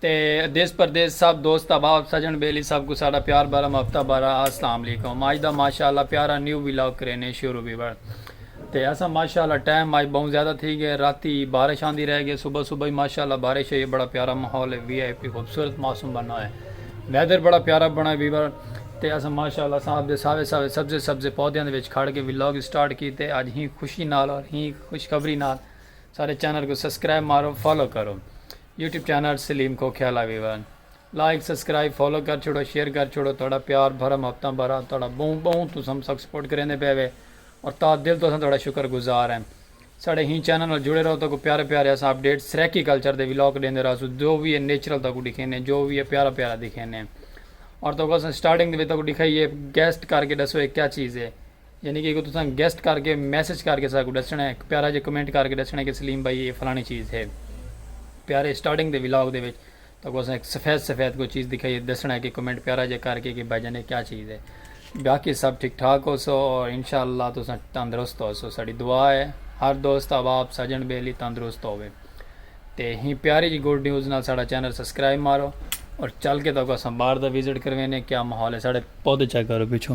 تے دیس پردیس سب دوست احباب سجن بیلی سب کوں ساڈا پیار بھرا مفتا بھرا اسلام علیکم اج دا ماشاءاللہ پیارا نیو ولاگ کرینے شروع ویور تے اساں ماشاءاللہ ٹائم اج بہوں زیادہ تھی گئے راتی بارش آندی رہ گئے صبح صبح ہی ماشاءاللہ بارش ہوئی ہے بڑا پیارا ماحول ہے وی آئی پی خوبصورت موسم بنا ہے ویدر بڑا پیارا بنا ہے ویور تے اساں ماشاءاللہ صاحب دے ساوے ساوے سبزے سبزے پودیاں دے وچ کھڑ کے ولاگ سٹارٹ کیتے اج ہی خوشی نال اور ہی خوشخبری نال سارے چینل کو سبسکرائب مارو فالو کرو یوٹیوب چینل سلیم کھوکھیالہ ویورن لائک سبسکرائب فالو کر چھوڑو شیئر کر چھوڑو تہاڈا پیار بھرا محبتاں بھرا تہاڈا بہوں بہوں تساں ہم سک سپورٹ کریندے پئے وے اور تاں دل توں اساں تہاڈا شکر گزار ہیں ساڈے ہیں چینل نال جڑے رہو تاکوں پیارے پیارے اساں اپ ڈیٹ سرائیکی کلچر دے ولاگ ڈیندے رہسوں جو وی ہے نیچرل تاکوں ڈکھینے جو وی ہے پیارا پیارا دکھینے اور تاکوں اساں سٹارٹنگ دے وچ تاکوں ڈکھائیے گیسٹ کر کے ڈسو اے کیا چیز ہے۔ یعنی کہ اگوں تساں گیسٹ کر کے میسج کر کے ساکوں ڈسنڑاں ہک پیارا جے کمنٹ کر کے ڈسنڑاں کہ سلیم بھائی اے فلانی چیز ہے پیارے سٹارٹنگ دے ولاگ دے وچ تاکوں اساں ہک سفید سفید کوئی چیز دکھائی ہے ڈسنڑاں کہ کمنٹ پیارا جے کر کے کہ بھائی جان اے کیا چیز ہے باقی سب ٹھیک ٹھاک ہو سو اور انشاءاللہ تساں تندرست ہو سو ساڈی دعا ہے ہر دوست احباب سجن بیلی تندرست ہوے تے ہی پیاری جی گڈ نیوز نال ساڈا چینل سبسکرائب مارو اور چل کے تاکوں اساں باہر دا وزٹ کروینے کیا ماحول ہے ساڈے پودے چیک کرو پیچھو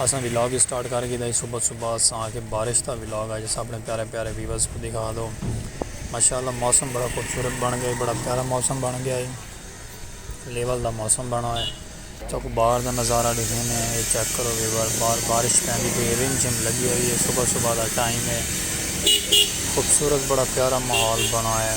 اساں ولاگ اسٹارٹ کر گھیدا ہی صبح صبح اساں آکھیا بارش دا ولاگ اج اساں اپنے پیارے پیارے ویورز کوں دکھا دو ماشاءاللہ موسم بڑا خوبصورت بن گئے بڑا پیارا موسم بن گیا ہے لیول دا موسم بنا ہے تو کو باہر دا نظارہ دکھنے ہیں یہ چیک کرو ویور باہر بارش پہندی پہ رم جھم لگی ہوئی ہے صبح صبح دا ٹائم ہے خوبصورت بڑا پیارا ماحول بنا ہے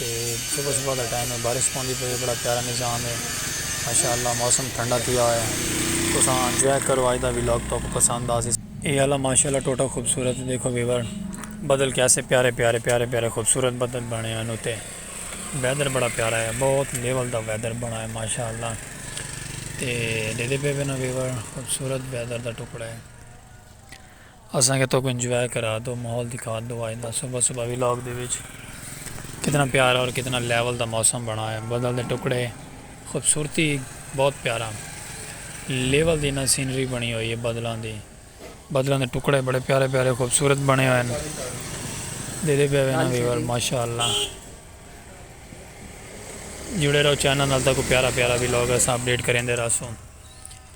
صبح صبح دا ٹائم ہے بارش پوندی پئی ہے بڑا پیارا نظام ہے ماشاءاللہ موسم ٹھنڈا تھیا ہویا ہے تساں انجوائے کرو آج دا ولاگ تو کو پسند آسی اے اللہ ماشاءاللہ ٹوٹا خوبصورت ہے دیکھو ویور بدل کیسے پیارے پیارے پیارے پیارے خوبصورت بدل بنے ہیں نوتے ویدر بڑا پیارا ہے بہت لیول دا ویدر بنا ہے ماشاءاللہ تے دیدے پہ بنا ویور خوبصورت ویدر دا ٹکڑا ہے اساں کیتے کو انجوائے کرا دو ماحول دکھا دو آج دا صبح صبح ولاگ دے وچ کتنا پیارا اور کتنا لیول دا موسم بنا ہے بدل دے ٹکڑے خوبصورتی بہت پیارا لیول دی نا سینری بنی ہوئی ہے بدلاں دی بدلاں دے ٹکڑے بڑے پیارے پیارے خوبصورت بنے ہوئے ہیں دے دے پہ وینا ویور ماشاءاللہ جڑے رہو چینل نال تک پیارا پیارا ولاگ اساں اپڈیٹ کریں دے رہا سوں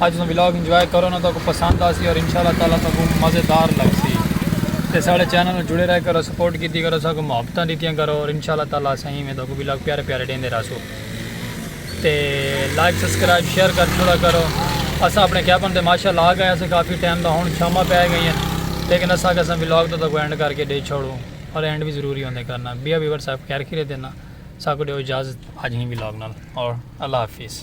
اج دا ولاگ انجوائے کرو نا تہاکوں پسند آسی اور انشاءاللہ تعالی تہاکوں مزیدار لگسی تے ساڈے چینل نال جڑے رہ کرو سپورٹ کیتی کرو ساکوں محبتاں ڈتیاں کرو اور انشاءاللہ تعالی اساں ایویں تہاکوں ولاگ پیارے پیارے ڈیندے رہسوں تے لائک سبسکرائب شیئر کر چھوڑا کرو اساں اپنے کیپن تے ماشا لا گئے اساں کافی ٹائم دا ہن شاماں پے گئی ہیں لیکن اساں اساں ولاگ تو تہاکوں اینڈ کر کے ڈے چھوڑوں اور اینڈ وی ضروری ہوندے کرنا بیا ویور صاحب خیر خیریت ہے نا ساکوں ڈیو اجازت اج ہی ولاگ نال اور اللہ حافظ